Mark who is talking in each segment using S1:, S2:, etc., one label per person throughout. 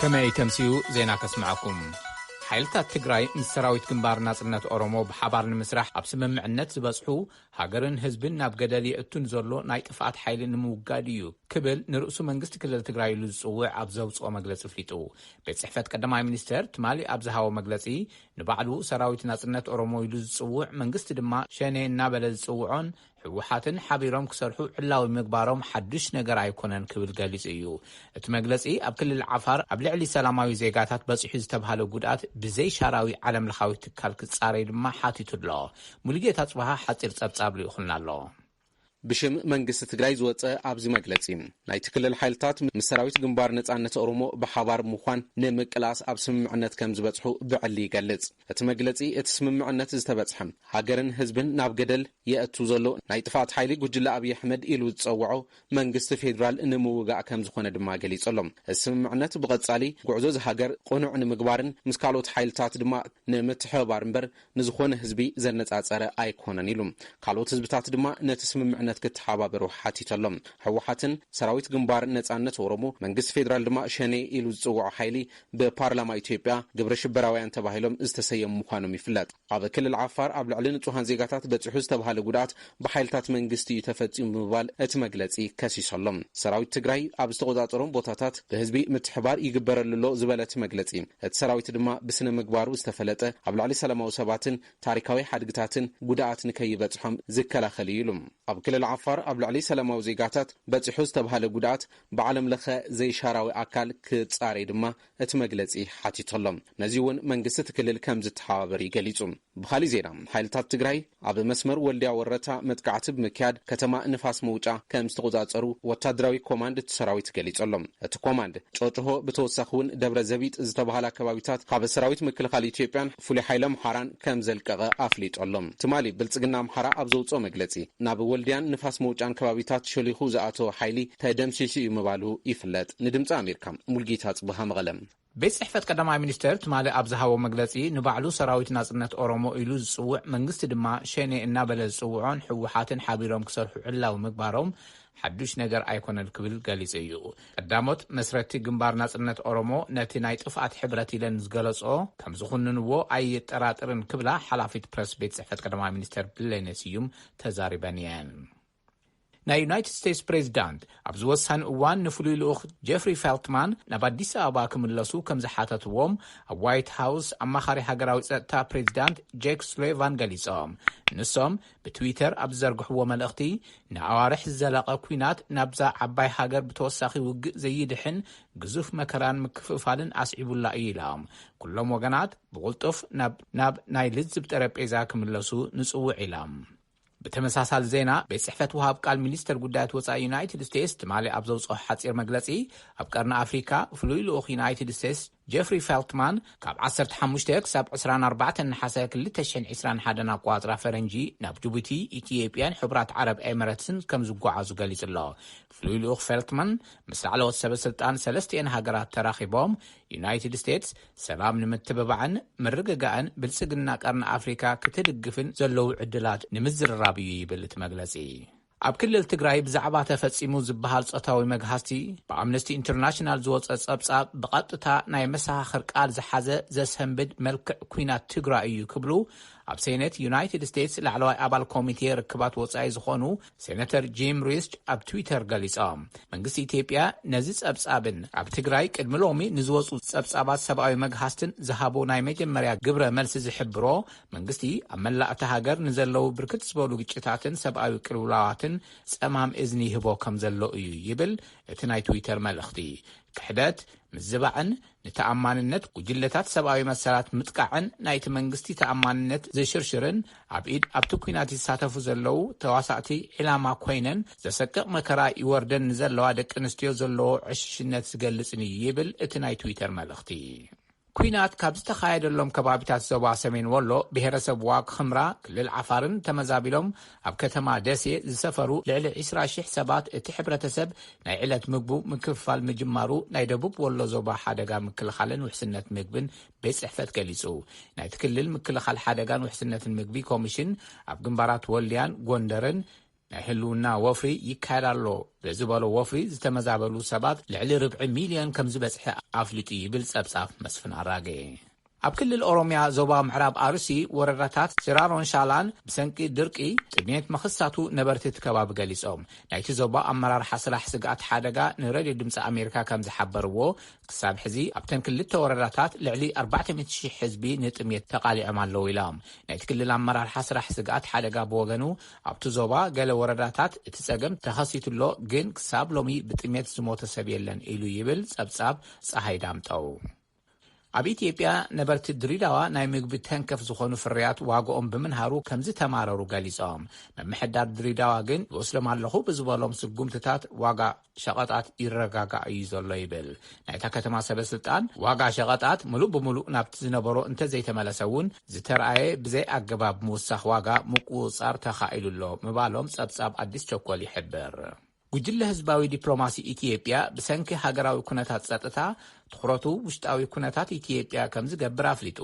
S1: ከመይ ተምስዩ ዜና ከስምዐኩም ሓይልታት ትግራይ ምስ ሰራዊት ግንባር ናጽነት ኦሮሞ ብሓባር ንምስራሕ ኣብ ስምምዕነት ዝበጽሑ ሃገርን ህዝብን ናብ ገደል የእቱን ዘሎ ናይ ጥፍኣት ሓይሊ ንምውጋድ እዩ ክብል ንርእሱ መንግስቲ ክልል ትግራይ ኢሉ ዝጽውዕ ኣብ ዘውፅኦ መግለፂ ፍሊጡ ቤት ጽሕፈት ቀዳማይ ሚኒስተር ትማሊ ኣብ ዝሃቦ መግለፂ ንባዕሉ ሰራዊት ናጽነት ኦሮሞ ኢሉ ዝጽውዕ፣ መንግስቲ ድማ ሸኔ እናበለ ዝጽውዖን ህወሓትን ሓቢሮም ክሰርሑ ዕላዊ ምግባሮም ሓዱሽ ነገር ኣይኮነን ክብል ገሊጹ እዩ። እቲ መግለጺ ኣብ ክልል ዓፋር ኣብ ልዕሊ ሰላማዊ ዜጋታት በጺሑ ዝተብሃለ ጉድኣት ብዘይ ሻራዊ ዓለምለኻዊ ትካል ክጻረይ ድማ ሓቲቱ ኣሎ። ሙሉጌታ ኣጽብሃ ሓጺር ጸብጻብ ልኢኹልና ኣሎ። ብሽም
S2: መንግስቲ ትግራይ ዝወፀ ኣብዚ መግለፂ፣ ናይቲ ክልል ሓይልታት ምስ ሰራዊት ግንባር ነፃነት ኦሮሞ ብሓባር ብምዃን ንምቅላስ ኣብ ስምምዕነት ከምዝበፅሑ ብዕሊ ይገልፅ። እቲ መግለፂ፣ እቲ ስምምዕነት ዝተበፅሐ ሃገርን ህዝብን ናብ ገደል የእቱ ዘሎ ናይ ጥፍኣት ሓይሊ ጉጅለ ኣብይ ኣሕመድ ኢሉ ዝፀውዖ መንግስቲ ፌዴራል ንምውጋእ ከምዝኾነ ድማ ገሊፁ ኣሎ። እዚ ስምምዕነት ብቐፃሊ ጉዕዞ እዚ ሃገር ቅኑዕ ንምግባርን ምስ ካልኦት ሓይልታት ድማ ንምትሕብባር እምበር ንዝኾነ ህዝቢ ዘነፃፀረ ኣይኮነን ኢሉ። ካልኦት ህዝብታት ድማ ነቲ ስምምዕነት ክተሓባበሩ ሓቲቱ ኣሎ። ህወሓትን ሰራዊት ግንባር ነፃነት ኦሮሞ፣ መንግስቲ ፌዴራል ድማ ሸኔ ኢሉ ዝፅውዖ ሓይሊ ብፓርላማ ኢትዮጵያ ግብረ ሽበራውያን ተባሂሎም ዝተሰየሙ ምዃኖም ይፍለጥ። ኣብ ክልል ዓፋር ኣብ ልዕሊ ንፁሃን ዜጋታት በፂሑ ዝተብሃለ ጉድኣት ብሓይልታት መንግስቲ እዩ ተፈፂሙ ብምባል እቲ መግለፂ ከሲሱ ኣሎ። ሰራዊት ትግራይ ኣብ ዝተቖፃፀሮም ቦታታት ብህዝቢ ምትሕብባር ይግበረሉ ኣሎ ዝበለ እቲ መግለፂ፣ እቲ ሰራዊት ድማ ብስነ ምግባሩ ዝተፈለጠ ኣብ ልዕሊ ሰላማዊ ሰባትን ታሪካዊ ሓድግታትን ጉድኣት ንከይበፅሖም ዝከላኸል እዩ ኢሉ። ኣብ ክልል ዓፋር ኣብ ልዕሊ ሰላማዊ ዜጋታት በፂሑ ዝተብሃለ ጉድኣት ብዓለም ለኸ ዘይሻራዊ ኣካል ክፃረይ ድማ እቲ መግለጺ ሓቲቱ ኣሎ። ነዚ'ውን መንግስቲ እቲ ክልል ከም ዝተሓባበር እዩ ገሊጹ። ብኻሊእ ዜና ሓይልታት ትግራይ ኣብ መስመር ወልድያ ወረታ መጥቃዕቲ ብምክያድ ከተማ ንፋስ መውጫ ከም ዝተቖጻጸሩ ወታደራዊ ኮማንድ እቲ ሰራዊት ገሊጹ ኣሎ። እቲ ኮማንድ ጮጭሆ ብተወሳኺ'ውን ደብረ ዘቢጥ ዝተባህላ ከባቢታት ካብ ሰራዊት ምክልኻል ኢትዮጵያን ፍሉይ ሓይሊ ኣምሓራን ከም ዘልቀቐ ኣፍሊጡ ኣሎ። ትማሊ ብልጽግና ኣምሓራ ኣብ ዘውጽኦ መግለጺ፣ ናብ ወልድያን ንፋስ መውጫን ከባቢታት ሸሊኹ ዝኣተወ ሓይሊ ተደምሲሱ እዩ ምባሉ ይፍለጥ። ንድምጺ ኣሜሪካ ሙልጌታ ኣጽብሃ መቐለ። ቤት ጽሕፈት ቀዳማይ
S1: ሚኒስተር ትማሊ ኣብ ዝሃቦ መግለጺ፣ ንባዕሉ ሰራዊት ናጽነት ኦሮሞ ኢሉ ዝጽውዕ፣ መንግስቲ ድማ ሸኔ እናበለ ዝጽውዖን ህወሓትን ሓቢሮም ክሰርሑ ዕላዊ ምግባሮም ሓዱሽ ነገር ኣይኮነን ክብል ገሊጹ እዩ። ቀዳሞት መስረቲ ግንባር ናጽነት ኦሮሞ ነቲ ናይ ጥፍኣት ሕብረት ኢለን ዝገለጽኦ ከምዝኹንንዎ ኣይጠራጥርን ክብላ ሓላፊት ፕረስ ቤት ጽሕፈት ቀዳማይ ሚኒስተር ብሌኔ ስዩም ተዛሪበን እየን። ናይ ዩናይትድ ስቴትስ ፕሬዚዳንት ኣብዚ ወሳኒ እዋን ንፍሉይ ልኡኽ ጀፍሪ ፌልትማን ናብ ኣዲስ ኣበባ ክምለሱ ከም ዝሓተትዎም ኣብ ዋይት ሃውስ ኣማኻሪ ሃገራዊ ጸጥታ ፕሬዚዳንት ጄክ ሱሌቫን ገሊጾም ንሶም ብትዊተር ኣብ ዝዘርግሕዎ መልእኽቲ፣ ንኣዋርሕ ዝዘለቐ ኲናት ናብዛ ዓባይ ሃገር ብተወሳኺ ውግእ ዘይድሕን ግዙፍ መከራን ምክፍፋልን ኣስዒቡላ እዩ ኢላ። ኩሎም ወገናት ብቕልጡፍ ናብ ናብ ናይ ልዝብ ጠረጴዛ ክምለሱ ንጽውዕ ኢላ። ብተመሳሳሊ ዜና ቤት ጽሕፈት ወሃብ ቃል ሚኒስተር ጉዳያት ወጻኢ ዩናይትድ ስቴትስ ትማሊ ኣብ ዘውጽኦ ሓጺር መግለጺ ኣብ ቀርኒ ኣፍሪካ ፍሉይ ልኡኽ ዩናይትድ ስቴትስ ጀፍሪ ፌልትማን ካብ ዓሰርተ ሓሙሽተ ክሳብ ዕስራን ኣርባዕተን ነሓሰ ክልተ ሽሕን ዒስራን ሓደን ኣቆፃፅራ ፈረንጂ ናብ ጅቡቲ፣ ኢትዮጵያን ሕቡራት ዓረብ ኤመረትስን ከም ዝጓዓዙ ገሊፁ'ሎ። ፍሉይ ልኡኽ ፌልትማን ምስ ላዕለዎት ሰበ ስልጣን ሰለስቲኤን ሃገራት ተራኺቦም ዩናይትድ ስቴትስ ሰላም ንምትብባዕን ምርግጋእን ብልፅግና ቀርኒ ኣፍሪካ ክትድግፍን ዘለዉ ዕድላት ንምዝርራብ እዩ ይብል እቲ መግለፂ። ኣብ ክልል ትግራይ ብዛዕባ ተፈጺሙ ዝበሃል ጾታዊ መግሃስቲ ብኣምነስቲ ኢንተርናሽናል ዝወጸ ጸብጻብ ብቐጥታ ናይ መሰኻኽር ቃል ዝሓዘ ዘሰንብድ መልክዕ ኲናት ትግራይ እዩ ክብሉ ኣብ ሴኔት ዩናይትድ ስቴትስ ላዕለዋይ ኣባል ኮሚቴ ርክባት ወጻኢ ዝኾኑ ሴነተር ጂም ሪስች ኣብ ትዊተር ገሊጾም። መንግስቲ ኢትዮጵያ ነዚ ጸብጻብን ኣብ ትግራይ ቅድሚ ሎሚ ንዝወጹ ጸብጻባት ሰብኣዊ መግሃስትን ዝሃቦ ናይ መጀመርያ ግብረ መልሲ ዝሕብሮ መንግስቲ ኣብ መላእ እታ ሃገር ንዘለዉ ብርክት ዝበሉ ግጭታትን ሰብኣዊ ቅልውላዋትን ጸማም እዝኒ ይህቦ ከም ዘሎ እዩ ይብል እቲ ናይ ትዊተር መልእኽቲ። ክሕደት፣ ምዝባዕን ንተኣማንነት ጉጅለታት ሰብኣዊ መሰላት ምጥቃዕን ናይቲ መንግስቲ ተኣማንነት ዝሽርሽርን ኣብ ኢድ ኣብቲ ኲናት ይሳተፉ ዘለዉ ተዋሳእቲ ዒላማ ኰይነን ዘሰቅቕ መከራ ይወርደን ንዘለዋ ደቂ ኣንስትዮ ዘለዎ ዕሽሽነት ዝገልጽን እዩ ይብል እቲ ናይ ትዊተር መልእኽቲ። ኲናት ካብ ዝተኻየደሎም ከባቢታት ዞባ ሰሜን ወሎ ብሄረሰብ ዋግ ኽምራ ክልል ዓፋርን ተመዛቢሎም ኣብ ከተማ ደሴ ዝሰፈሩ ልዕሊ ዕስራ ሽሕ ሰባት እቲ ሕብረተሰብ ናይ ዕለት ምግቡ ምክፍፋል ምጅማሩ ናይ ደቡብ ወሎ ዞባ ሓደጋ ምክልኻልን ውሕስነት ምግብን ቤት ፅሕፈት ገሊፁ። ናይቲ ክልል ምክልኻል ሓደጋን ውሕስነትን ምግቢ ኮሚሽን ኣብ ግንባራት ወልድያን ጎንደርን ናይ ህልውና ወፍሪ ይካየድ ኣሎ ብዝበሎ ወፍሪ ዝተመዛበሉ ሰባት ልዕሊ ርብዒ ሚልዮን ከምዝበፅሐ ኣፍሊጡ ይብል ፀብፃብ መስፍን ኣራጌ። ኣብ ክልል ኦሮሚያ ዞባ ምዕራብ ኣርሲ ወረዳታት ሲራሮን ሻላን ብሰንኪ ድርቂ ጥምየት ምኽሳቱ ነበርቲ እቲ ከባቢ ገሊፆም። ናይቲ ዞባ ኣመራርሓ ስራሕ ስግኣት ሓደጋ ንሬድዮ ድምፂ ኣሜሪካ ከምዝሓበርዎ ክሳብ ሕዚ ኣብተን ክልተ ወረዳታት ልዕሊ ኣርባዕተ ሚእቲ ሽሕ ህዝቢ ንጥምየት ተቓሊዖም ኣለዉ ኢላ። ናይቲ ክልል ኣመራርሓ ስራሕ ስግኣት ሓደጋ ብወገኑ ኣብቲ ዞባ ገለ ወረዳታት እቲ ፀገም ተኸሲቱ'ሎ ግን ክሳብ ሎሚ ብጥምየት ዝሞተ ሰብ የለን ኢሉ ይብል ፀብፃብ ፀሃይ ዳምጠው። ኣብ ኢትዮጵያ ነበርቲ ድሪዳዋ ናይ ምግቢ ተንከፍ ዝኾኑ ፍርያት ዋግኦም ብምንሃሩ ከምዝተማረሩ ገሊፆም። ምምሕዳር ድሪዳዋ ግን ይወስዶም ኣለኹ ብዝበሎም ስጉምትታት ዋጋ። ሸቐጣት ይረጋጋእ እዩ ዘሎ ይብል ናይታ ከተማ ሰበስልጣን። ዋጋ ሸቐጣት ምሉእ ብምሉእ ናብቲ ዝነበሮ እንተዘይተመለሰ እውን ዝተርኣየ ብዘይኣገባብ ምውሳኽ ዋጋ ምቁፅፃር ተኻኢሉ ኣሎ ምባሎም ፀብፃብ ኣዲስ ቸኮል ይሕብር። ጉጅለ ህዝባዊ ዲፕሎማሲ ኢትዮጵያ ብሰንኪ ሃገራዊ ኩነታት ፀጥታ ትኹረቱ ውሽጣዊ ኩነታት ኢትዮጵያ ከምዝገብር ኣፍሊጡ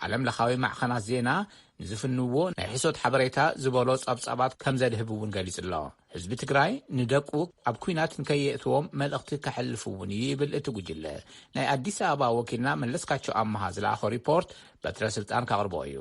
S1: ዓለም ለኻዊ ማዕኸናት ዜና ንዝፍንዎ ናይ ሕሶት ሓበሬታ ዝበሎ ፀብፃባት ከምዘድህብ እውን ገሊፁ ኣሎ። ህዝቢ ትግራይ ንደቁ ኣብ ኲናት ንከየእትዎም መልእኽቲ ከሕልፍ እውን እዩ ይብል እቲ ጉጅለ። ናይ ኣዲስ ኣበባ ወኪልና መለስካቸው ኣመሃ ዝለኣኾ ሪፖርት በትረ ስልጣን ከቕርቦ እዩ።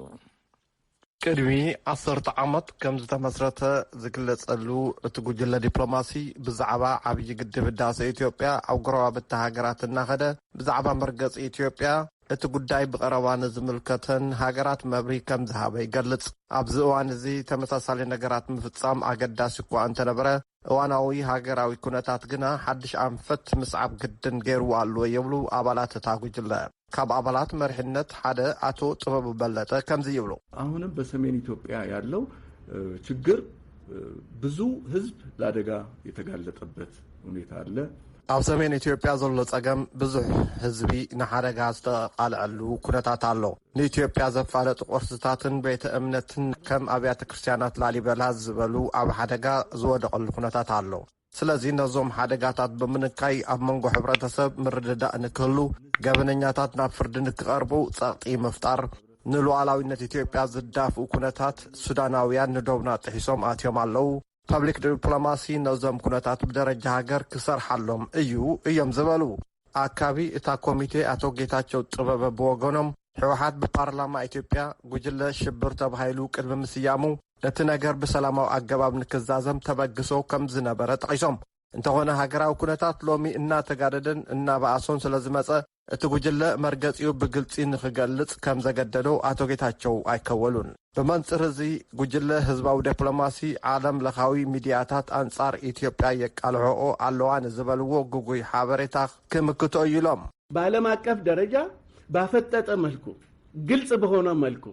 S3: ቅድሚ ዓሰርተ ዓመት ከም ዝተመስረተ ዝግለፀሉ እቲ ጉጅለ ዲፕሎማሲ ብዛዕባ ዓብዪ ግድብ ህዳሰ ኢትዮጵያ ኣብ ጎረባብቲ ሃገራት እናኸደ ብዛዕባ መርገፂ ኢትዮጵያ፣ እቲ ጉዳይ ብቐረባ ንዝምልከተን ሃገራት መብርሂ ከም ዝሃበ ይገልጽ። ኣብዚ እዋን እዚ ተመሳሳሊ ነገራት ምፍጻም ኣገዳሲ እኳ እንተነበረ፣ እዋናዊ ሃገራዊ ኩነታት ግና ሓድሽ ኣንፈት ምስዓብ ግድን ገይርዎ ኣሎ ይብሉ ኣባላት እታ ጉጅለ። ካብ ኣባላት መሪሕነት ሓደ ኣቶ ጥበቡ በለጠ ከምዚ ይብሉ። ኣሁንም በሰሜን
S4: ኢትዮጵያ ያለው ችግር ብዙ ህዝብ ለአደጋ የተጋለጠበት ሁኔታ አለ። ኣብ ሰሜን
S3: ኢትዮጵያ ዘሎ ጸገም ብዙሕ ህዝቢ ንሓደጋ ዝተቓልዐሉ ኩነታት ኣሎ። ንኢትዮጵያ ዘፋለጡ ቅርስታትን ቤተ እምነትን ከም ኣብያተ ክርስትያናት ላሊበላ ዝበሉ ኣብ ሓደጋ ዝወደቐሉ ኩነታት ኣሎ። ስለዚ ነዞም ሓደጋታት ብምንካይ ኣብ መንጎ ሕብረተሰብ ምርድዳእ ንክህሉ፣ ገበነኛታት ናብ ፍርዲ ንክቐርቡ ጸቕጢ ምፍጣር፣ ንሉኣላዊነት ኢትዮጵያ ዝዳፍኡ ኩነታት ሱዳናውያን ንዶብና ጥሒሶም ኣትዮም ኣለዉ፣ ፐብሊክ ዲፕሎማሲ ነዞም ኩነታት ብደረጃ ሃገር ክሰርሓሎም እዩ እዮም ዝበሉ። ኣካቢ እታ ኮሚቴ ኣቶ ጌታቸው ጥበበ ብወገኖም፣ ህወሓት ብፓርላማ ኢትዮጵያ ጉጅለ ሽብር ተባሂሉ ቅድሚ ምስያሙ፣ እቲ ነገር ብሰላማዊ ኣገባብ ንክዛዘም ተበግሶ ከምዝነበረ ጠቒሶም። እንተኾነ ሃገራዊ ኩነታት ሎሚ እናተጋደደን እናበኣሶን ስለዝመፀ እቲ ጉጅለ መርገፂኡ ብግልፂ ንክገልፅ ከምዘገደዶ ኣቶ ጌታቸው ኣይከወሉን። ብመንፅር እዚ ጉጅለ ህዝባዊ ዴፕሎማሲ ዓለም ለኻዊ ሚዲያታት ኣንፃር ኢትዮጵያ የቃልሖኦ ኣለዋ ንዝበልዎ ግጉይ ሓበሬታ ክምክቶ እዩ ኢሎም። በዓለም አቀፍ
S4: ደረጃ ባፈጠጠ መልኩ ግልፅ በሆነ መልኩ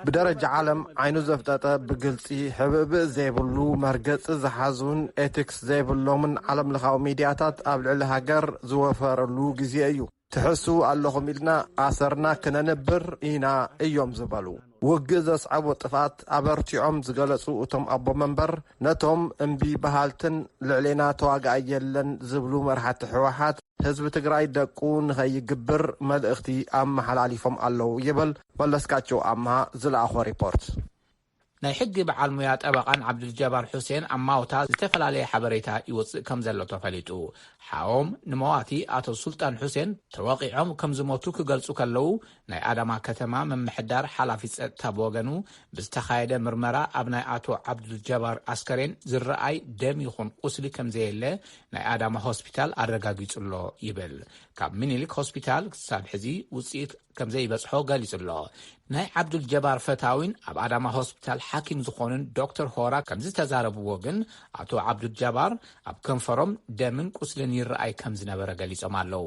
S4: ብደረጃ
S3: ዓለም ዓይኑ ዘፍጠጠ ብግልፂ ሕብእብእ ዘይብሉ መርገፂ ዝሓዙን ኤቲክስ ዘይብሎምን ዓለም ለኻዊ ሚድያታት ኣብ ልዕሊ ሃገር ዝወፈረሉ ግዜ እዩ። ትሕስዉ ኣለኹም ኢልና ኣሰርና ክነንብር ኢና እዮም ዝበሉ። ውግእ ዘስዐቦ ጥፍኣት ኣበርቲዖም ዝገለፁ እቶም ኣቦ መንበር ነቶም እምቢ በሃልትን ልዕሌና ተዋጋኣይ የለን ዝብሉ መራሕቲ ህወሓት ህዝቢ ትግራይ ደቁ ንኸይግብር መልእኽቲ ኣመሓላሊፎም ኣለዉ ይብል መለስካቸው ኣምሃ ዝለኣኾ ሪፖርት። ናይ
S1: ሕጊ በዓል ሙያ ጠበቓን ዓብዱልጀባር ሑሴን ኣብ ማውታ ዝተፈላለየ ሓበሬታ ይወጽእ ከምዘሎ ተፈሊጡ። ሓዎም ንመዋቲ ኣቶ ሱልጣን ሑሴን ተወቒዖም ከምዝሞቱ ክገልጹ ከለዉ ናይ ኣዳማ ከተማ ምምሕዳር ሓላፊ ጸጥታ ብወገኑ ብዝተኻየደ ምርመራ ኣብ ናይ ኣቶ ዓብዱልጀባር ኣስከሬን ዝረኣይ ደም ይኹን ቁስሊ ከምዘየለ ናይ ኣዳማ ሆስፒታል ኣረጋጊጹ'ሎ ይብል። ካብ ሚኒሊክ ሆስፒታል ክሳብ ሕዚ ውጽኢት ከምዘይበጽሖ ገሊጹ'ሎ። ናይ ዓብዱል ጀባር ፈታዊን ኣብ ኣዳማ ሆስፒታል ሓኪም ዝኾኑን ዶክተር ሆራ ከምዝተዛረብዎ ግን ኣቶ ዓብዱል ጀባር ኣብ ከንፈሮም ደምን ቁስልን ይረኣይ ከምዝነበረ ገሊጾም ኣለው።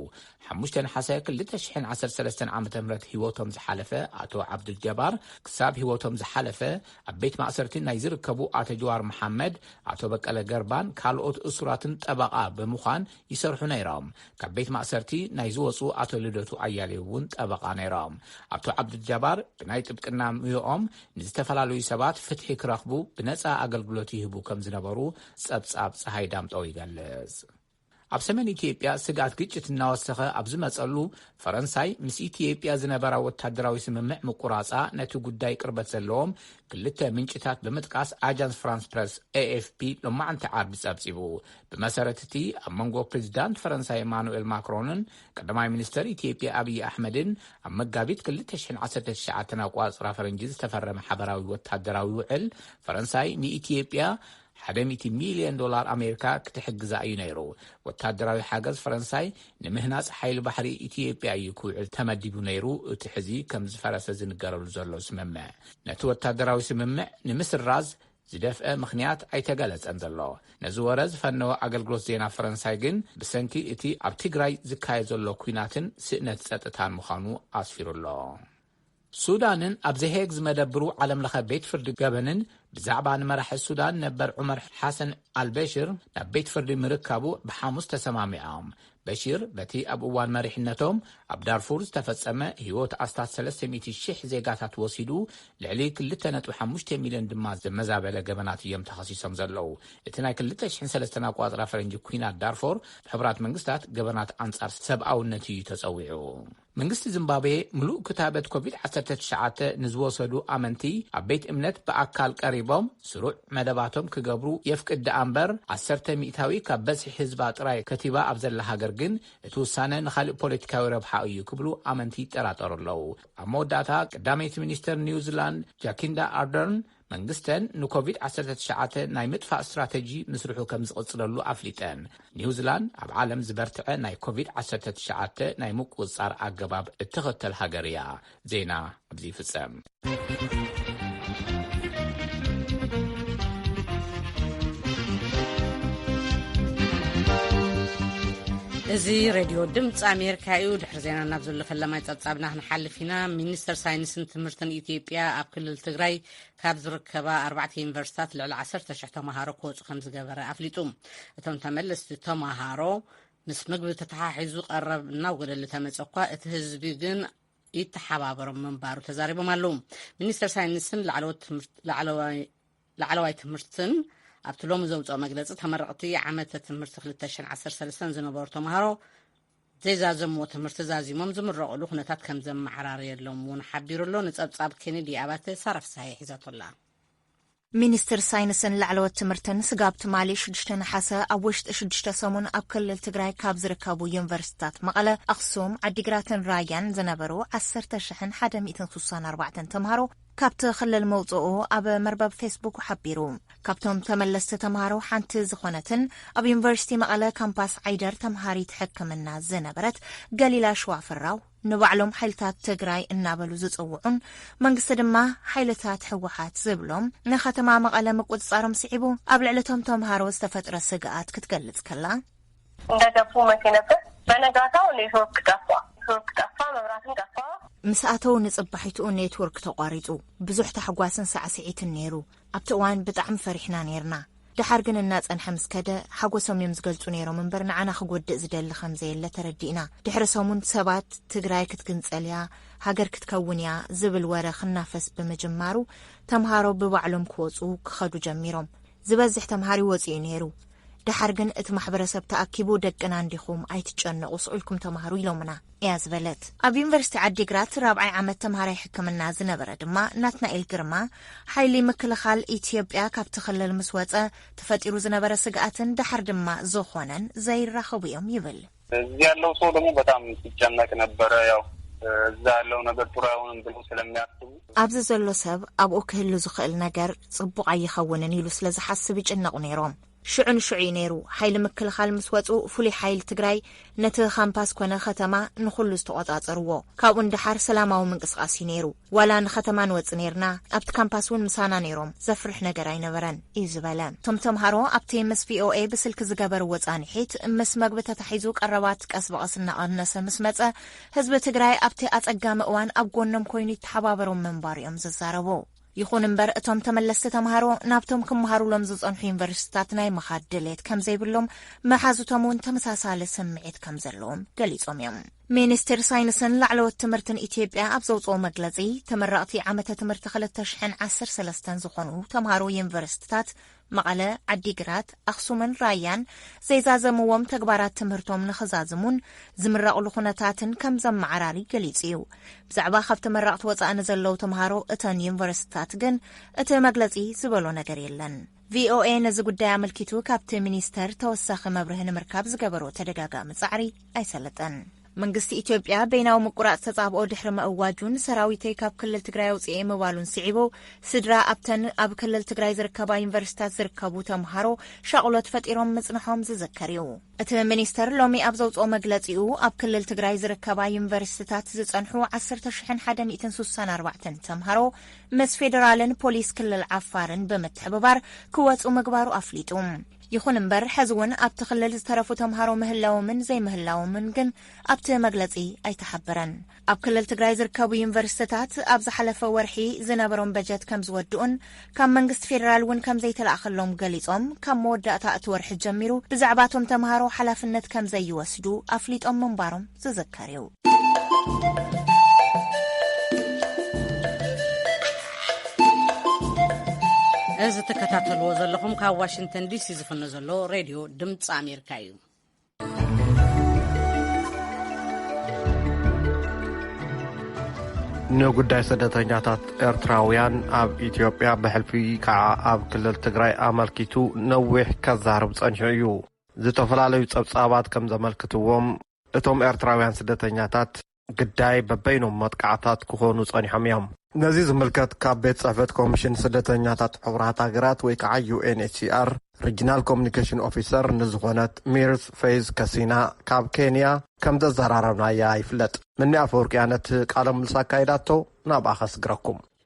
S1: ሓሙሽተ ነሓሰ ክልተ ሽሕን ዓሰርተ ሰለስተን ዓመተ ምህረት ህይወቶም ዝሓለፈ ኣቶ ዓብዱል ጀባር ክሳብ ህይወቶም ዝሓለፈ ኣብ ቤት ማእሰርቲ ናይ ዝርከቡ ኣቶ ጀዋር መሓመድ፣ ኣቶ በቀለ ገርባን ካልኦት እሱራትን ጠበቓ ብምዃን ይሰርሑ ነይሮም። ካብ ቤት ማእሰርቲ ናይ ዝወጹ ኣቶ ልደቱ ኣያሌው እውን ጠበቓ ነይሮም። ኣቶ ዓብዱልጃባር ብናይ ጥብቅና ሙዮኦም ንዝተፈላለዩ ሰባት ፍትሒ ክረኽቡ ብነጻ ኣገልግሎት ይህቡ ከም ዝነበሩ ጸብጻብ ጸሃይ ዳምጠው ይገልጽ። ኣብ ሰሜን ኢትዮጵያ ስግኣት ግጭት እናወሰኸ ኣብ ዝመጸሉ፣ ፈረንሳይ ምስ ኢትዮጵያ ዝነበራ ወታደራዊ ስምምዕ ምቁራጻ ነቲ ጉዳይ ቅርበት ዘለዎም ክልተ ምንጭታት ብምጥቃስ ኣጃንስ ፍራንስ ፕረስ፣ ኤኤፍፒ፣ ሎማዕንቲ ዓርቢ ጸብጺቡ። ብመሰረት እቲ ኣብ መንጎ ፕሬዚዳንት ፈረንሳይ ኢማኑኤል ማክሮንን ቀዳማይ ሚኒስተር ኢትዮጵያ ኣብዪ ኣሕመድን ኣብ መጋቢት ክልተ ሽሕን ዓሰርተ ትሽዓተን ኣቆጻጽራ ፈረንጂ ዝተፈረመ ሓበራዊ ወታደራዊ ውዕል ፈረንሳይ ንኢትዮጵያ ሓደ ሚእቲ ሚልዮን ዶላር ኣሜሪካ ክትሕግዛ እዩ ነይሩ። ወታደራዊ ሓገዝ ፈረንሳይ ንምህናጽ ሓይሊ ባሕሪ ኢትዮጵያ እዩ ክውዕል ተመዲቡ ነይሩ እቲ ሕዚ ከም ዝፈረሰ ዝንገረሉ ዘሎ ስምምዕ። ነቲ ወታደራዊ ስምምዕ ንምስራዝ ዝደፍአ ምኽንያት ኣይተገለጸን ዘሎ። ነዚ ወረ ዝፈነወ ኣገልግሎት ዜና ፈረንሳይ ግን ብሰንኪ እቲ ኣብ ትግራይ ዝካየድ ዘሎ ኲናትን ስእነት ጸጥታን ምዃኑ ኣስፊሩ ኣሎ። ሱዳንን ኣብ ዘ-ሄግ ዝመደብሩ ዓለም ለኸ ቤት ፍርዲ ገበንን ብዛዕባ ንመራሒ ሱዳን ነበር ዑመር ሓሰን ኣልበሽር ናብ ቤት ፍርዲ ምርካቡ ብሓሙስ ተሰማሚዖም። በሽር በቲ ኣብ እዋን መሪሕነቶም ኣብ ዳርፉር ዝተፈጸመ ህይወት ኣስታት ሰለስተ ሚእቲ ሽሕ ዜጋታት ወሲዱ ልዕሊ ክልተ ነጥቢ ሓሙሽተ ሚልዮን ድማ ዘመዛበለ ገበናት እዮም ተኸሲሶም ዘለዉ። እቲ ናይ ክልተ ሽሕን ሰለስተን ኣቆጻጽራ ፈረንጂ ኲናት ዳርፎር ብሕቡራት መንግስታት ገበናት ኣንጻር ሰብኣውነት እዩ ተጸዊዑ። መንግስቲ ዚምባብዌ ምሉእ ክታበት ኮቪድ ዓሰርተ ትሽዓተ ንዝወሰዱ ኣመንቲ ኣብ ቤት እምነት ብኣካል ቀሪቦም ስሩዕ መደባቶም ክገብሩ የፍቅድ ደኣ'ምበር ዓሰርተ ሚእታዊ ካብ በዝሒ ህዝባ ጥራይ ከቲባ ኣብ ዘላ ሃገር ግን እቲ ውሳነ ንኻልእ ፖለቲካዊ ረብሓ እዩ ክብሉ ኣመንቲ ይጠራጠሩ ኣለዉ። ኣብ መወዳእታ ቀዳመይቲ ሚኒስተር ኒውዚላንድ ጃኪንዳ ኣርደርን መንግስተን ንኮቪድ ዓሰርተ ትሽዓተ ናይ ምጥፋእ ስትራተጂ ምስርሑ ከም ዝቕፅለሉ ኣፍሊጠን። ኒውዚላንድ ኣብ ዓለም ዝበርትዐ ናይ ኮቪድ ዓሰርተ ትሽዓተ ናይ ምቁፅፃር ኣገባብ እትኽተል ሃገር እያ። ዜና ኣብዚ ይፍፀም።
S5: እዚ ሬድዮ ድምፂ ኣሜሪካ እዩ። ዜና ናብ ዘሎ ፈለማይ ጸብጻብና ክንሓልፍ ኢና ሚኒስተር ሳይንስን ትምህርትን ኢትዮጵያ ኣብ ክልል ትግራይ ካብ ዝርከባ ኣርባዕተ ዩኒቨርሲታት ልዕሊ ዓሰርተ ሽሕ ተምሃሮ ክወፁ ከም ዝገበረ ኣፍሊጡ እቶም ተመለስቲ ተምሃሮ ምስ ምግቢ ተተሓሒዙ ቀረብ እናውገደሉ ተመፀ እኳ እቲ ህዝቢ ግን ይተሓባበሮም ምንባሩ ተዛሪቦም ኣለዉ ሚኒስተር ሳይንስን ላዕለዋይ ትምህርትን ኣብቲ ሎሚ ዘውፅኦ መግለፂ ተመረቕቲ ዓመተ ትምህርቲ 213 ዝነበሩ ተምሃሮ ዘይዛዘምዎ ትምህርቲ ዛዚሞም ዝምረቕሉ ኩነታት ከም ዘመዓራረየሎም እውን ሓቢሩ ኣሎ። ንጸብጻብ ኬኔዲ ኣባተ ሳራ ፍስሃየ ሒዛቶ ኣላ።
S6: ሚኒስትር ሳይንስን ላዕለዎት ትምህርትን ስጋብ ትማሊ ሽዱሽተ ነሓሰ ኣብ ውሽጢ ሽዱሽተ ሰሙን ኣብ ክልል ትግራይ ካብ ዝርከቡ ዩኒቨርሲቲታት መቐለ፣ ኣኽሱም፣ ዓዲግራትን ራያን ዝነበሩ ዓሰርተ ሽሕን ሓደ ሚእትን ስሳን ኣርባዕተን ተምሃሮ፣ ካብቲ ክልል ምውጽኡ ኣብ መርበብ ፌስቡኩ ሓቢሩ። ካብቶም ተመለስቲ ተምሃሮ ሓንቲ ዝኾነትን ኣብ ዩኒቨርሲቲ መቐለ ካምፓስ ዓይደር ተምሃሪት ሕክምና ዝነበረት ገሊላ ሽዋፍራው ንባዕሎም ሓይልታት ትግራይ እናበሉ ዝጽውዑን መንግስቲ ድማ ሓይልታት ህወሓት ዝብሎም ንከተማ መቐለ ምቁጽጻሮም ስዒቡ ኣብ ልዕሊ እቶም ተምሃሮ ዝተፈጥረ ስግኣት ክትገልጽ ከላ እንዳ ደፉ
S7: መሴ ነበር በነጋታው ኔትወርክ ጠፍኣ ኔትወርክ ጠፍኣ መብራትን ጠፍኣ። ምስ ኣተው
S6: ንጽባሒትኡ ኔትወርክ ተቋሪጹ። ብዙሕ ታሕጓስን ሳዕስዒትን ነይሩ። ኣብቲ እዋን ብጣዕሚ ፈሪሕና ነይርና። ደሓር ግን እናጸንሐ ምስ ከደ ሓጎሶም እዮም ዝገልጹ ነይሮም እምበር ንዓና ክጎድእ ዝደሊ ከም ዘየለ ተረዲእና። ድሕሪ ሰሙን ሰባት ትግራይ ክትግንጸል እያ፣ ሃገር ክትከውን እያ ዝብል ወረ ክናፈስ ብምጅማሩ ተምሃሮ ብባዕሎም ክወጹ ክኸዱ ጀሚሮም። ዝበዝሕ ተምሃሪ ወጺኡ ነይሩ። ደሓር ግን እቲ ማሕበረሰብ ተኣኪቡ ደቅና እንዲኹም ኣይትጨነቑ ስቑኢልኩም ተምሃሩ ኢሎምና እያ ዝበለት። ኣብ ዩኒቨርሲቲ ዓዲግራት ራብዓይ ዓመት ተምሃራይ ሕክምና ዝነበረ ድማ ናትናኤል ግርማ፣ ሓይሊ ምክልኻል ኢትዮጵያ ካብቲ ክልል ምስ ወጸ ተፈጢሩ ዝነበረ ስግኣትን ደሓር ድማ ዝኾነን ዘይራኸቡ'ዮም ይብል። እዚህ ያለው ሰው
S8: ደግሞ በጣም ሲጨነቅ ነበረ ያው እዛ ያለው ነገር ጥሩ አይሆንም ብሎ
S6: ስለሚያስቡ ኣብዚ ዘሎ ሰብ ኣብኡ ክህሉ ዝኽእል ነገር ጽቡቕ ኣይኸውንን ኢሉ ስለ ዝሓስብ ይጭነቑ ነይሮም። ሽዑ ንሽዑ እዩ ነይሩ ሓይሊ ምክልኻል ምስ ወፁ ፍሉይ ሓይሊ ትግራይ ነቲ ካምፓስ ኮነ ከተማ ንኹሉ ዝተቖፃፀርዎ ካብኡ ንደሓር ሰላማዊ ምንቅስቓስ እዩ ነይሩ ዋላ ንኸተማ ንወጽእ ነይርና፣ ኣብቲ ካምፓስ እውን ምሳና ነይሮም፣ ዘፍርሕ ነገር ኣይነበረን እዩ ዝበለ። እቶም ተምሃሮ ኣብቲ ምስ ቪኦኤ ብስልኪ ዝገበርዎ ጻንሒት፣ ምስ መግቢ ተታሒዙ ቀረባት ቀስ ብቐስ እናቐነሰ ምስ መጸ፣ ህዝቢ ትግራይ ኣብቲ ኣጸጋሚ እዋን ኣብ ጎኖም ኮይኑ ይተሓባበሮም ምንባሩ እዮም ዝዛረቡ። ይኹን እምበር እቶም ተመለስቲ ተምሃሮ ናብቶም ክመሃሩሎም ዝጸንሑ ዩኒቨርሲቲታት ናይ ምኻድ ድሌት ከምዘይብሎም፣ መሓዙቶም እውን ተመሳሳሊ ስምዒት ከምዘለዎም ገሊጾም እዮም። ሚኒስቴር ሳይንስን ላዕለዎት ትምህርትን ኢትዮጵያ ኣብ ዘውፅኦ መግለፂ ተመረቕቲ ዓመተ ትምህርቲ ክልተ ሽሕን ዓሰርተ ሰለስተን ዝኾኑ ተምሃሮ ዩኒቨርሲቲታት መቐለ፣ ዓዲግራት፣ ኣኽሱምን ራያን ዘይዛዘምዎም ተግባራት ትምህርቶም ንኽዛዝሙን ዝምረቕሉ ኩነታትን ከም ዘመዓራሪ ገሊጹ እዩ። ብዛዕባ ካብ ተመረቕቲ ወፃእ ንዘለዉ ተምሃሮ እተን ዩኒቨርሲቲታት ግን እቲ መግለፂ ዝበሎ ነገር የለን። ቪኦኤ ነዚ ጉዳይ ኣመልኪቱ ካብቲ ሚኒስተር ተወሳኺ መብርሂ ንምርካብ ዝገበሮ ተደጋጋሚ ጻዕሪ ኣይሰለጠን። መንግስቲ ኢትዮጵያ በይናዊ ምቁራጽ ተጻብኦ ድሕሪ መእዋጁን ሰራዊተይ ካብ ክልል ትግራይ ኣውፅኤ ምባሉን ስዒቡ ስድራ ኣብተን ኣብ ክልል ትግራይ ዝርከባ ዩኒቨርሲታት ዝርከቡ ተምሃሮ ሻቕሎት ፈጢሮም ምጽንሖም ዝዝከር እዩ። እቲ ሚኒስተር ሎሚ ኣብ ዘውጽኦ መግለጺኡ፣ ኣብ ክልል ትግራይ ዝርከባ ዩኒቨርሲቲታት ዝጸንሑ ዓሰርተ ሽሕን ሓደ ሚእትን ሱሳን ኣርባዕተን ተምሃሮ ምስ ፌደራልን ፖሊስ ክልል ዓፋርን ብምትሕብባር ክወጹ ምግባሩ ኣፍሊጡ። ይኹን እምበር ሕዚ እውን ኣብቲ ክልል ዝተረፉ ተምሃሮ ምህላዎምን ዘይምህላዎምን ግን ኣብቲ መግለጺ ኣይተሓበረን። ኣብ ክልል ትግራይ ዝርከቡ ዩኒቨርስትታት ኣብ ዝሓለፈ ወርሒ ዝነበሮም በጀት ከም ዝወድኡን ካብ መንግስቲ ፌዴራል እውን ከም ዘይተላእኸሎም ገሊፆም ካብ መወዳእታ እቲ ወርሒ ጀሚሩ ብዛዕባ እቶም ተምሃሮ ሓላፍነት ከም ዘይወስዱ ኣፍሊጦም ምንባሮም ዝዝከር እዩ።
S5: እዚ ተከታተልዎ ዘለኹም ካብ ዋሽንግተን ዲሲ ዝፍኖ ዘሎ ሬድዮ ድምፂ ኣሜሪካ እዩ።
S3: ንጉዳይ ስደተኛታት ኤርትራውያን ኣብ ኢትዮጵያ ብሕልፊ ከዓ ኣብ ክልል ትግራይ ኣመልኪቱ ነዊሕ ከዛርብ ጸኒሑ እዩ ዝተፈላለዩ ጸብጻባት ከም ዘመልክትዎም እቶም ኤርትራውያን ስደተኛታት ግዳይ በበይኖም መጥቃዕታት ክኾኑ ጸኒሖም እዮም። ነዚ ዝምልከት ካብ ቤት ጽሕፈት ኮሚሽን ስደተኛታት ሕቡራት ሃገራት ወይ ከዓ ዩኤንኤችሲኣር ሪጅናል ኮሚኒኬሽን ኦፊሰር ንዝኾነት ሚርዝ ፌዝ ከሲና ካብ ኬንያ ከምዘዘራረብናያ ይፍለጥ። ምኒ ኣፈወርቅያ ነቲ ቃለ ምልልስ ኣካይዳቶ ናብኣ ከስግረኩም።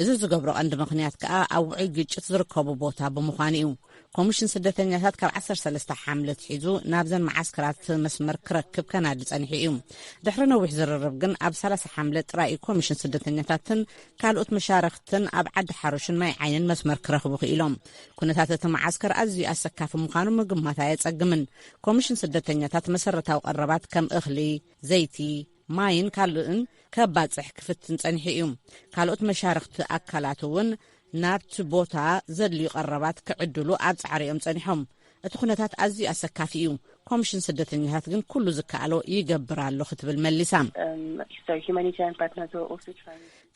S5: እዚ ዝገብሮ ቀንዲ ምኽንያት ከኣ ኣብ ውዑይ ግጭት ዝርከቡ ቦታ ብምዃኑ እዩ። ኮሚሽን ስደተኛታት ካብ ዓሰርተ ሰለስተ ሓምለ ኣትሒዙ ናብዘን መዓስከራት መስመር ክረክብ ከናዲ ጸኒሑ እዩ። ድሕሪ ነዊሕ ዝርርብ ግን ኣብ ሰላሳ ሓምለ ጥራይ እዩ ኮሚሽን ስደተኛታትን ካልኦት መሻርኽትን ኣብ ዓዲ ሓሩሽን ማይ ዓይንን መስመር ክረኽቡ ክኢሎም። ኩነታት እቲ መዓስከር ኣዝዩ ኣሰካፊ ምዃኑ ምግማት ኣየጸግምን። ኮሚሽን ስደተኛታት መሰረታዊ ቀረባት ከም እኽሊ፣ ዘይቲ፣ ማይን ካልእን ከባጽሕ ክፍትን ጸኒሑ እዩ። ካልኦት መሻርኽቲ ኣካላት እውን ናብቲ ቦታ ዘድልዩ ቀረባት ክዕድሉ ኣብ ጻዕሪ እዮም ጸኒሖም። እቲ ኩነታት ኣዝዩ ኣሰካፊ እዩ፣ ኮምሽን ስደተኛታት ግን ኩሉ ዝከኣሎ ይገብር ኣሎ ክትብል መሊሳ።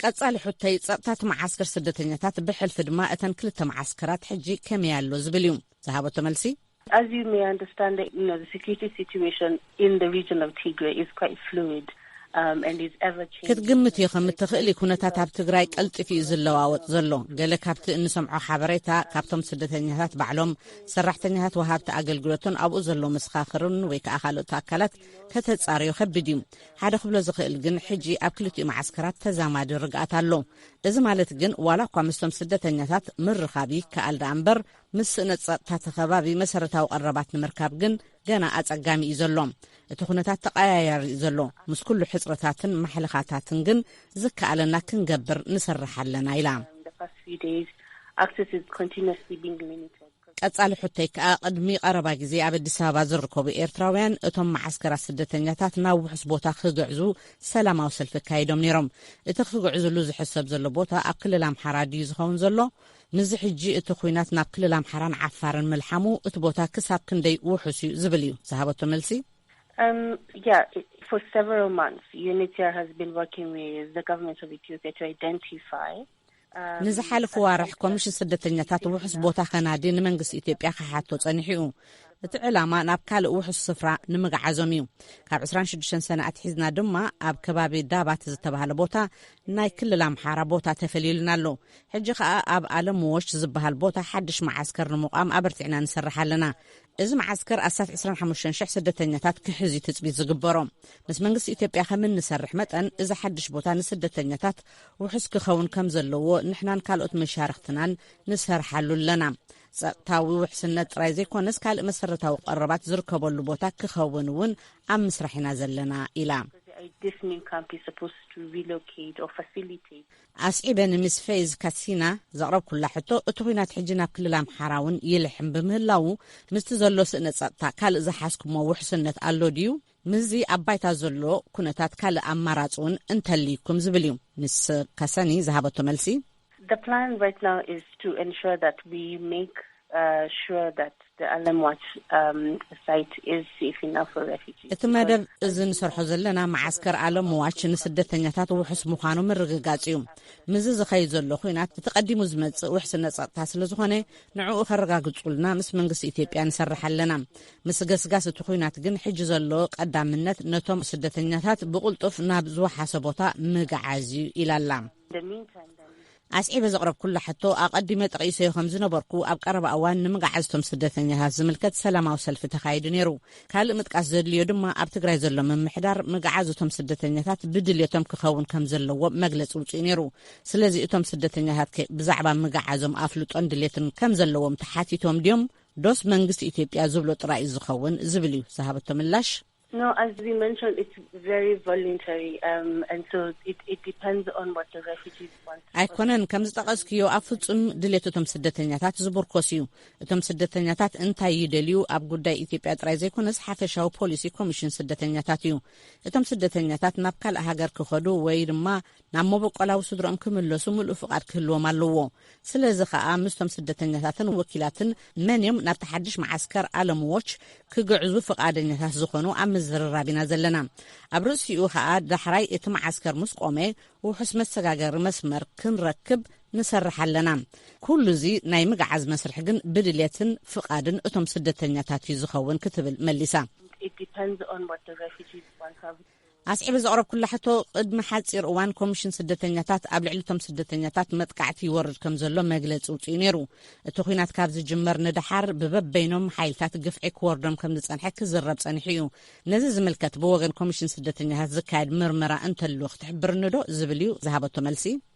S5: ቀጻሊ ሑተይ ጸጥታ እቲ መዓስከር ስደተኛታት ብሕልፊ ድማ እተን ክልተ መዓስከራት ሕጂ ከመይ ኣሎ ዝብል እዩ። ዝሃበቶ መልሲ As you may
S9: understand the you know the security situation in the region of Tigray is quite fluid um, and is ever
S5: changing. ክትግምትዮ ከም እትኽእሊ ኩነታት ኣብ ትግራይ ቀልጢፉ እዩ ዝለዋወጥ ዘሎ። ገለ ካብቲ እንሰምዖ ሓበሬታ ካብቶም ስደተኛታት ባዕሎም፣ ሰራሕተኛታት ወሃብቲ ኣገልግሎትን ኣብኡ ዘሎ መሰኻኽርን ወይ ከዓ ካልኦት ኣካላት ከተጻርዮ ከቢድ እዩ። ሓደ ክብሎ ዝኽእል ግን ሕጂ ኣብ ክልቲኡ መዓስከራት ተዛማዲ ርግኣት ኣሎ። እዚ ማለት ግን ዋላ እኳ ምስቶም ስደተኛታት ምርኻብ ይከኣል ደኣ እምበር ምስ ስእነት ጸጥታ እቲ ከባቢ መሰረታዊ ቀረባት ንምርካብ ግን ገና ኣጸጋሚ እዩ ዘሎ። እቲ ኩነታት ተቐያያሪ እዩ ዘሎ። ምስ ኩሉ ሕጽረታትን ማሕለኻታትን ግን ዝከኣለና ክንገብር ንሰርሕ ኣለና ኢላ። ቀጻሊ ሕቶይ ከኣ ቅድሚ ቀረባ ግዜ ኣብ ኣዲስ ኣበባ ዝርከቡ ኤርትራውያን እቶም መዓስከራት ስደተኛታት ናብ ውሑስ ቦታ ክግዕዙ ሰላማዊ ሰልፊ ኣካይዶም ነይሮም። እቲ ክግዕዝሉ ዝሕሰብ ዘሎ ቦታ ኣብ ክልል ኣምሓራ ድዩ ዝኸውን ዘሎ? ንዚ ሕጂ እቲ ኹናት ናብ ክልል ኣምሓራን ዓፋርን ምልሓሙ እቲ ቦታ ክሳብ ክንደይ ውሑስ እዩ ዝብል እዩ ዝሃበቶ መልሲ። እም ያ ፎር
S9: ሰቨራል ማንስ ዩኒትር ሃዝ ቢን ወርኪንግ ዊዝ ዘ ገቨርንመንት ኦፍ ኢትዮጵያ ቱ ኣይደንቲፋይ
S5: ንዝሓለፉ ኣዋርሕ ኮሚሽን ስደተኛታት ውሑስ ቦታ ከናዲ ንመንግስቲ ኢትዮጵያ ክሓቶ ጸኒሑ እዩ። እቲ ዕላማ ናብ ካልእ ውሑስ ስፍራ ንምግዓዞም እዩ ካብ 26 ሰነ ኣትሒዝና ድማ ኣብ ከባቢ ዳባት ዝተባሃለ ቦታ ናይ ክልል ኣምሓራ ቦታ ተፈልዩልና ኣሎ ሕጂ ከኣ ኣብ ኣለም ዎሽ ዝበሃል ቦታ ሓድሽ መዓስከር ንምቛም ኣበርቲዕና ንሰርሕ ኣለና። እዚ መዓስከር ኣስታት ዕስራን ሓሙሽተን ሽሕ ስደተኛታት ክሕዝ እዩ ትጽቢት ዝግበሮ። ምስ መንግስቲ ኢትዮጵያ ከም እንሰርሕ መጠን እዚ ሓድሽ ቦታ ንስደተኛታት ውሑስ ክኸውን ከም ዘለዎ ንሕናን ካልኦት መሻርኽትናን ንሰርሓሉ ኣለና። ጸጥታዊ ውሕስነት ጥራይ ዘይኮነስ ካልእ መሰረታዊ ቀረባት ዝርከበሉ ቦታ ክኸውን እውን ኣብ ምስራሕ ኢና ዘለና ኢላ። ኣስዒበ ንሚስ ፌዝ ካሲና ዘቕረብኩላ ሕቶ፣ እቲ ኹናት ሕጂ ናብ ክልል ኣምሓራ እውን ይልሕም ብምህላዉ፣ ምስቲ ዘሎ ስእነ ጸጥታ ካልእ ዝሓዝኩሞ ውሕስነት ኣሎ ድዩ? ምስዚ ኣብ ባይታ ዘሎ ኩነታት ካልእ ኣማራጺ እውን እንተልዩኩም ዝብል እዩ። ሚስ ካሰኒ ዝሃበቶ መልሲ። The plan
S9: right now is to ensure that we make. እቲ መደብ እዚ
S5: ንሰርሖ ዘለና መዓስከር ኣለምዋች ንስደተኛታት ውሑስ ምዃኑ ምርግጋጽ እዩ። ምስዚ ዝኸይድ ዘሎ ኲናት እቲ ቀዲሙ ዝመጽእ ውሕስነት ጸጥታ ስለ ዝኾነ ንዕኡ ከረጋግጹልና ምስ መንግስቲ ኢትዮጵያ ንሰርሕ ኣለና። ምስገስጋስ እቲ ኲናት ግን ሕጂ ዘሎ ቀዳምነት ነቶም ስደተኛታት ብቕልጡፍ ናብ ዝወሓሰ ቦታ ምግዓዝ እዩ ኢላ ኣላ። ኣስዒበ ዘቕረብኩላ ሕቶ፣ ኣቐዲመ ጠቒሰዮ ከም ዝነበርኩ፣ ኣብ ቀረባ እዋን ንምግዓዝ'ቶም ስደተኛታት ዝምልከት ሰላማዊ ሰልፊ ተኻይዱ ነይሩ። ካልእ ምጥቃስ ዘድልዮ ድማ፣ ኣብ ትግራይ ዘሎ ምምሕዳር፣ ምግዓዝ እቶም ስደተኛታት ብድልየቶም ክኸውን ከም ዘለዎ መግለጺ ኣውጺኡ ነይሩ። ስለዚ እቶም ስደተኛታትከ ብዛዕባ ምግዓዞም ኣፍልጦን ድልየትን ከም ዘለዎም ተሓቲቶም ድዮም? ዶስ መንግስቲ ኢትዮጵያ ዝብሎ ጥራይ'ዩ ዝኸውን? ዝብል'ዩ ዝሃበቶ ምላሽ። No as we
S9: mentioned it's very voluntary and so it depends on what the refugees want. ኣይኮነን ከም
S5: ዝጠቐስክዮ ኣብ ፍጹም ድሌት እቶም ስደተኛታት ዝቡርኮስ እዩ። እቶም ስደተኛታት እንታይ ይደልዩ ኣብ ጉዳይ ኢትዮጵያ ጥራይ ዘይኮነስ ሓፈሻዊ ፖሊሲ ኮሚሽን ስደተኛታት እዩ። እቶም ስደተኛታት ናብ ካልእ ሃገር ክኸዱ ወይ ድማ ናብ መበቆላዊ ስድርኦም ክምለሱ ምሉእ ፍቓድ ክህልዎም ኣለዎ። ስለዚ ከኣ ምስቶም ስደተኛታትን ወኪላትን መን እዮም ናብቲ ሓድሽ መዓስከር ኣለም ዎች ክግዕዙ ፍቓደኛታት ዝኾኑ ኣብ ምዝርራብ ኢና ዘለና። ኣብ ርእሲኡ ከኣ ዳሕራይ እቲ መዓስከር ምስ ቆመ ውሑስ መሰጋገሪ መስመር ክንረክብ ንሰርሕ ኣለና። ኩሉ እዚ ናይ ምግዓዝ መስርሕ ግን ብድሌትን ፍቓድን እቶም ስደተኛታት እዩ ዝኸውን ክትብል መሊሳ። ኣስዒበ ዘቕረብኩላ ሕቶ፣ ቅድሚ ሓጺር እዋን ኮሚሽን ስደተኛታት ኣብ ልዕሊ እቶም ስደተኛታት መጥቃዕቲ ይወርድ ከም ዘሎ መግለጺ ኣውጺኡ ነይሩ። እቲ ኲናት ካብ ዝጅመር ንደሓር ብበበይኖም ሓይልታት ግፍዒ ክወርዶም ከም ዝጸንሐ ክዝረብ ጸኒሑ እዩ። ነዚ ዝምልከት ብወገን ኮሚሽን ስደተኛታት ዝካየድ ምርመራ እንተሉ ክትሕብርኒዶ? ዝብል እዩ ዝሃበቶ መልሲ።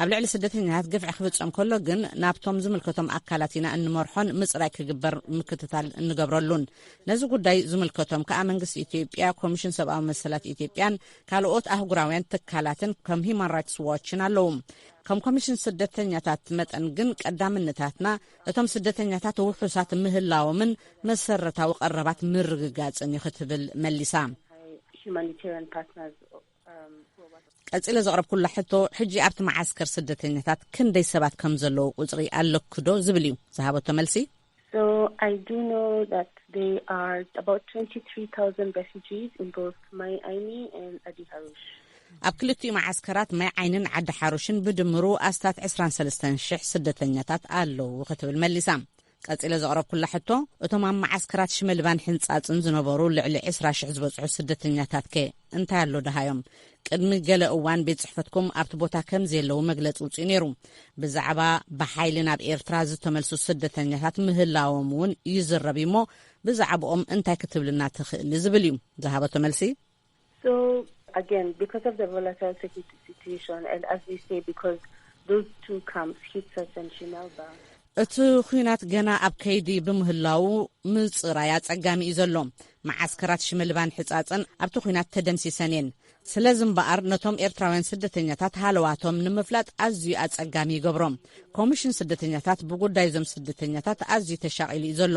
S5: ኣብ ልዕሊ ስደተኛታት ግፍዒ ክፍጸም ከሎ ግን ናብቶም ዝምልከቶም ኣካላት ኢና እንመርሖን ምጽራይ ክግበር ምክትታል እንገብረሉን ነዚ ጉዳይ ዝምልከቶም ከኣ መንግስቲ ኢትዮጵያ ኮሚሽን ሰብኣዊ መሰላት ኢትዮጵያን ካልኦት ኣህጉራውያን ትካላትን ከም ሂማን ራይትስ ዋችን ኣለዉ ከም ኮሚሽን ስደተኛታት መጠን ግን ቀዳምነታትና እቶም ስደተኛታት ውሑሳት ምህላዎምን መሰረታዊ ቀረባት ምርግጋጽን እዩ ክትብል መሊሳ ቀጺለ ዘቕረብኩላ ሕቶ ሕጂ ኣብቲ መዓስከር ስደተኛታት ክንደይ ሰባት ከም ዘለዉ ቁጽሪ ኣለኩዶ ዝብል እዩ ዝሃበቶ መልሲ So
S9: I do know that there are about 23,000 refugees in both Mai Aini and Adi Harush. ኣብ ክልቲኡ
S5: መዓስከራት ማይ ዓይንን ዓዲ ሓሩሽን ብድምሩ ኣስታት 23 ሽሕ ስደተኛታት ኣለዉ ክትብል መሊሳ ቀጺለ ዘቕረብኩላ ሕቶ፣ እቶም ኣብ መዓስከራት ሽመልባን ሕንጻጽን ዝነበሩ ልዕሊ ዕስራ ሽሕ ዝበጽሑ ስደተኛታትከ እንታይ ኣሎ ደሃዮም? ቅድሚ ገለ እዋን ቤት ጽሕፈትኩም ኣብቲ ቦታ ከም ዘየለዉ መግለጺ ውጺኡ ነይሩ። ብዛዕባ ብሓይሊ ናብ ኤርትራ ዝተመልሱ ስደተኛታት ምህላዎም እውን ይዝረብ እዩሞ ብዛዕብኦም እንታይ ክትብልና ትኽእሊ? ዝብል እዩ ዝሃበቶ መልሲ።
S9: እቲ
S5: ኹናት ገና ኣብ ከይዲ ብምህላዉ ምፅራይ ኣፀጋሚ እዩ ዘሎ። መዓስከራት ሽመልባን ሕፃፅን ኣብቲ ኹናት ተደምሲሰን እየን። ስለዚ እምበኣር ነቶም ኤርትራውያን ስደተኛታት ሃለዋቶም ንምፍላጥ ኣዝዩ ኣፀጋሚ ይገብሮ። ኮሚሽን ስደተኛታት ብጉዳይ እዞም ስደተኛታት ኣዝዩ ተሻቒሉ እዩ ዘሎ።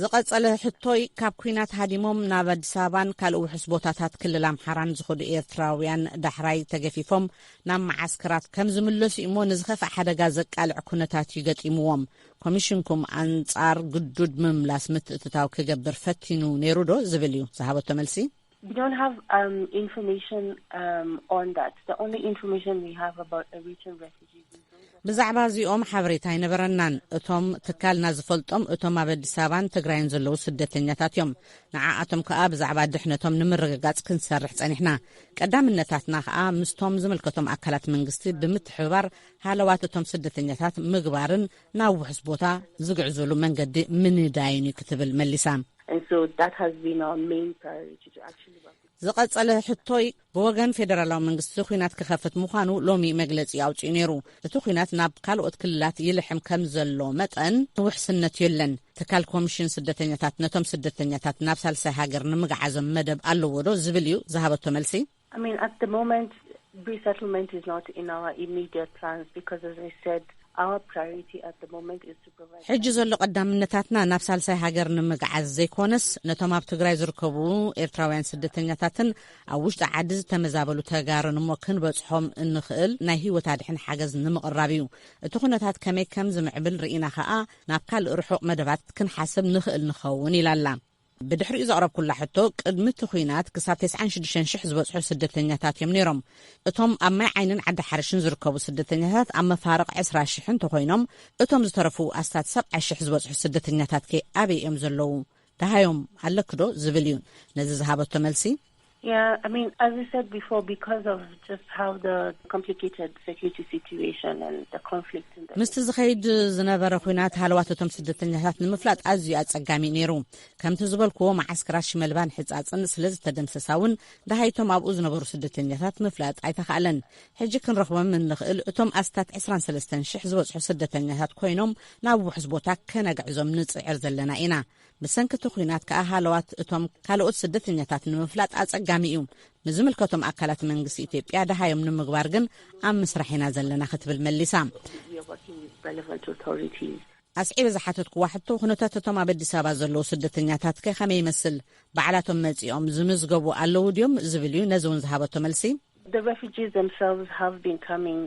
S9: ዝቐጸለ
S5: ሕቶይ ካብ ኩናት ሃዲሞም ናብ ኣዲስ ኣበባን ካልእ ውሑስ ቦታታት ክልል ኣምሓራን ዝኸዱ ኤርትራውያን ዳሕራይ ተገፊፎም ናብ መዓስከራት ከም ዝምለሱ እዩ እሞ ንዝኸፍእ ሓደጋ ዘቃልዕ ኩነታት እዩ ገጢምዎም ኮሚሽንኩም ኣንጻር ግዱድ ምምላስ ምትእትታው ክገብር ፈቲኑ ነይሩ ዶ ዝብል እዩ ዝሃበቶ መልሲ We don't
S9: have information on that the only information we have about Eritrean refugees is those that ብዛዕባ
S5: እዚኦም ሓበሬታ ኣይነበረናን እቶም ትካልና ዝፈልጦም እቶም ኣብ ኣዲስ ኣበባን ትግራይን ዘለዉ ስደተኛታት እዮም ንዓኣቶም ከኣ ብዛዕባ ድሕነቶም ንምርግጋጽ ክንሰርሕ ጸኒሕና ቀዳምነታትና ከኣ ምስቶም ዝምልከቶም ኣካላት መንግስቲ ብምትሕብባር ሃለዋት እቶም ስደተኛታት ምግባርን ናብ ውሑስ ቦታ ዝግዕዙሉ መንገዲ ምንዳይን እዩ ክትብል መሊሳ።
S9: ዝቐጸለ ሕቶይ
S5: ብወገን ፌደራላዊ መንግስቲ ኲናት ክኸፍት ምዃኑ ሎሚ መግለጺ ኣውጺኡ ነይሩ። እቲ ኲናት ናብ ካልኦት ክልላት ይልሕም ከም ዘሎ መጠን ውሕስነት የለን። ትካል ኮሚሽን ስደተኛታት ነቶም ስደተኛታት ናብ ሳልሳይ ሃገር ንምግዓዞም መደብ ኣለዎዶ ዝብል እዩ ዝሃበቶ መልሲ።
S9: ሕጂ ዘሎ ቀዳምነታትና
S5: ናብ ሳልሳይ ሃገር ንምግዓዝ ዘይኮነስ ነቶም ኣብ ትግራይ ዝርከቡ ኤርትራውያን ስደተኛታትን ኣብ ውሽጢ ዓዲ ዝተመዛበሉ ተጋሩን እሞ ክንበጽሖም እንኽእል ናይ ህይወት ኣድሕን ሓገዝ ንምቕራብ እዩ። እቲ ኩነታት ከመይ ከም ዝምዕብል ርኢና ከኣ ናብ ካልእ ርሑቕ መደባት ክንሓስብ ንኽእል ንኸውን ኢላ'ላ። ብድሕሪኡ ዘቕረብኩላ ሕቶ፣ ቅድሚ እቲ ኲናት ክሳብ ተስዓን ሽዱሽተን ሽሕ ዝበጽሑ ስደተኛታት እዮም ነይሮም። እቶም ኣብ ማይ ዓይንን ዓዲ ሓርሽን ዝርከቡ ስደተኛታት ኣብ መፋርቕ ዕስራ ሽሕ እንተኾይኖም፣ እቶም ዝተረፉ ኣስታት ሰብዓ ሽሕ ዝበጽሑ ስደተኛታትከ ኣበይ እዮም ዘለዉ? ደሃዮም ኣለኪ ዶ? ዝብል እዩ። ነዚ ዝሃበቶ መልሲ፣
S9: ምስቲ ዝኸይድ
S5: ዝነበረ ኹናት ሃለዋት እቶም ስደተኛታት ንምፍላጥ ኣዝዩ ኣጸጋሚ እዩ ነይሩ። ከምቲ ዝበልክዎ መዓስከራት ሽመልባን ሕጻጽን ስለ ዝተደምሰሳ እውን ደሃይ እቶም ኣብኡ ዝነበሩ ስደተኛታት ምፍላጥ ኣይተኻእለን። ሕጂ ክንረኽቦም እንኽእል እቶም ኣስታት ዕስራን ሰለስተን ሽሕ ዝበጽሑ ስደተኛታት ኮይኖም ናብ ውሑስ ቦታ ከነግዕዞም ንጽዕር ዘለና ኢና። ብሰንኪ እቲ ኹናት ከኣ ሃለዋት እቶም ካልኦት ስደተኛታት ንምፍላጥ ኣጸጋሚ እዩ። ንዝምልከቶም ኣካላት መንግስቲ ኢትዮጵያ ደሃዮም ንምግባር ግን ኣብ ምስራሕ ኢና ዘለና ክትብል መሊሳ። ኣስዒበ ዝሓተትኩዋ ሕቶ ኩነታት እቶም ኣብ ኣዲስ ኣበባ ዘለዉ ስደተኛታትከ ከመይ ይመስል፣ ባዕላቶም መጺኦም ዝምዝገቡ ኣለዉ ድዮም ዝብል እዩ። ነዚ እውን ዝሃበቶ መልሲ፣ The refugees
S9: themselves have been coming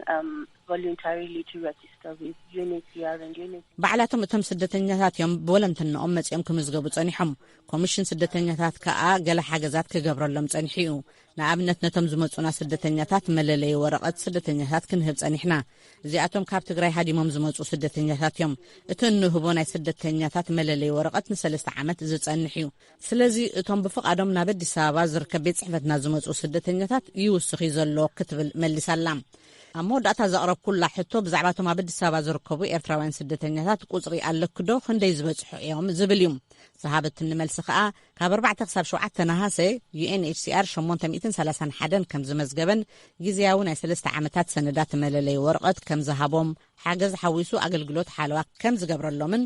S9: voluntarily to register with UNHCR and UNHCR. ባዕላቶም እቶም
S5: ስደተኛታት እዮም ብወለንትንኦም መጺኦም ክምዝገቡ ጸኒሖም። ኮሚሽን ስደተኛታት ከኣ ገለ ሓገዛት ክገብረሎም ጸኒሑ እዩ። ንኣብነት ነቶም ዝመጹና ስደተኛታት መለለዪ ወረቐት ስደተኛታት ክንህብ ጸኒሕና። እዚኣቶም ካብ ትግራይ ሃዲሞም ዝመጹ ስደተኛታት እዮም። እቲ እንህቦ ናይ ስደተኛታት መለለዪ ወረቐት ንሰለስተ ዓመት ዝጸንሕ እዩ። ስለዚ እቶም ብፍቓዶም ናብ ኣዲስ ኣበባ ዝርከብ ቤት ጽሕፈትና ዝመጽኡ ስደተኛታት ይውስኽ እዩ ዘሎ ክትብል መሊሳላ። ኣብ መወዳእታ ዘቕረብኩላ ሕቶ ብዛዕባ እቶም ኣብ ኣዲስ ኣበባ ዝርከቡ ኤርትራውያን ስደተኛታት ቁጽሪ ኣለኪ'ዶ ክንደይ ዝበጽሑ እዮም ዝብል እዩ። ዝሃበትኒ መልሲ ከኣ ካብ ኣርባዕተ ክሳብ ሸውዓተ ነሃሰ UNHCR ሸሞንተ ሚእትን ሰላሳን ሓደን ከም ዝመዝገበን ግዝያዊ ናይ ሰለስተ ዓመታት ሰነዳት መለለዪ ወረቐት ከም ዝሃቦም ሓገዝ ሓዊሱ ኣገልግሎት ሓለዋ ከም ዝገብረሎምን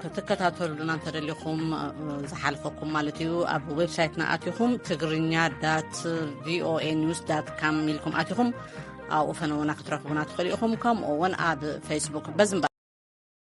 S5: ክትከታተሉና እንተደሊኹም ዝሓልፈኩም ማለት እዩ ኣብ ዌብሳይትና ኣትኹም ትግርኛ ዳት ቪኦኤ ኒውስ ዳት ካም ኢልኩም ኣትኹም ኣብኡ ፈነውና ክትረኽቡና ትኽእሉ ኢኹም ከምኡ እውን ኣብ ፌስቡክ በዝምባ